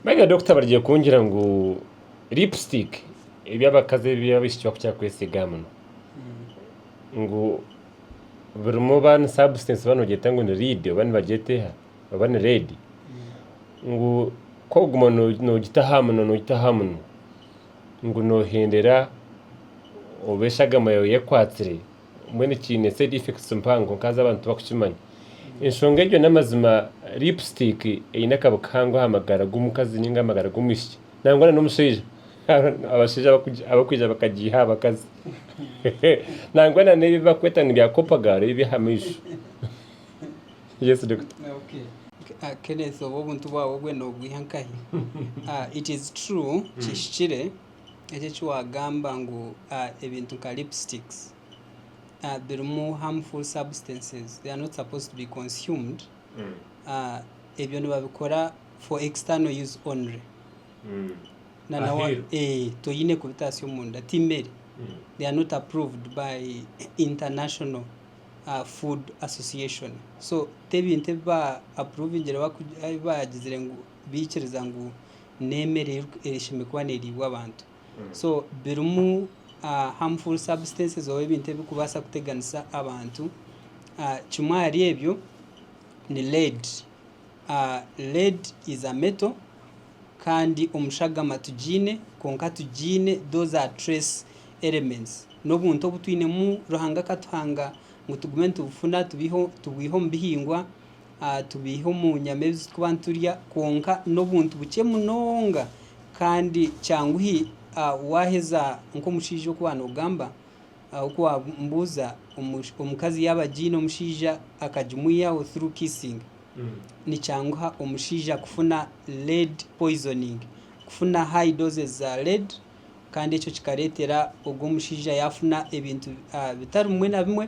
Nanye Dokita barigye kungira ngu lipstick ebi abakazi ebi abaishiki bakukira kwesiga aha munwa ngu birimu oba ni substance oba nogyeta ngu ni lead oba nibagyeta eha oba ni red ngu ku orikuguma nogita aha munwa nogita aha munwa ngu nohendera obu eshagama yaawe ekwatsire mbwenu kiine side effects mpango nkazi abantu tibakukimanya enshonga egyo namazima lipstick eine akabi kahango aha magara gomukazi ninga amagara gomwishiki nangwa na nomushaija abashaija abakwija bakagiiha aha bakazi nangwa na nebi bakweta ngu bya copagal ebi ebyaha maisho yes doctor. Kenneth obwo obuntu bwawe obwe nobwiha nkahi? It is true kihikire. eki eki wagamba ngu ebintu nka lipsticks birimu harmful substances they are not supposed to be consumed ebyo nibabikora for external use only mm. eh, toyine kubitaasya omunda timere mm. they are not approved by international uh, food association so tebintu ebi ba approvingire bagizire ngu baikiriza ngu n'emere eyeishemereire kuba neriibwa abantu so birimu harmful substances oba ebintu ebirikubaasa kuteganisa abantu kimwe ahari ebyo ni lead. Lead is a metal kandi omu shagama tugiine kwonka tugiine those are trace elements n'obuntu obu twinemu Ruhanga akatuhanga ngu tugume nitubufuna tubwihe omu bihingwa. tubeiha omu nyama ezi turikuba niturya kwonka n'obuntu bukye munonga kandi kyanguhi waheza nk'omushaija oku waaba nogamba oku wambuuza omukazi yaaba agiine omushaija akagimwihaho through kissing nikyanguha omushaija kufuna lead poisoning kufuna high doses za lead kandi ekyo kikareetera ogwo omushaija yaafuna ebintu bitari bimwe na bimwe.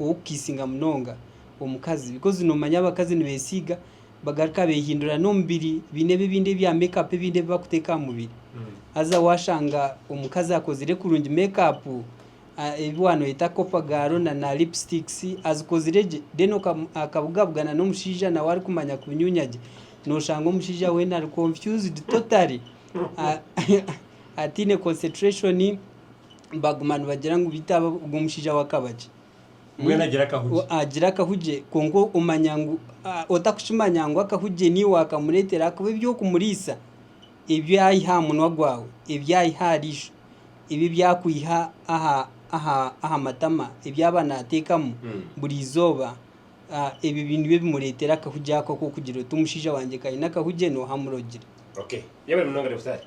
ow'okukiisinga munonga omukazi bikozi nomanya abakazi nibesiiga bagaruka behindura n'omubiri baine ebi ebindi ebya make up ebindi ebi bakuteeka aha mubiri haza washanga omukazi akozire kurungi make up ebi wanoyeta copper girl na na lipsticks azikozire gye then akabugabugana n'omushaija nawe arikumanya kunyunya gye noshanga omushaija weena ari confused totally ataine concentration. baguma nibagira ngu beitu aba ogwo omushaija w'akabagye Mbwenu agira akahugi. O- agira akahugye kwonka omanya ngu ah, otakukimanya ngu akahugye niiwe wakamureetera ahakuba eby'okumuriisa ebi aiha aha munwa gwawe ebi aiha aha riisho ebi ebi akwiha aha aha aha matama ebi aba naateekamu Mm. buri izooba ah, ebyo bi- nibyo bimureetera akahugye ako ak'okugira oti omushaija wangye ka aine akahugye nooha amurogire Okay. Yabere munonga Nabutari.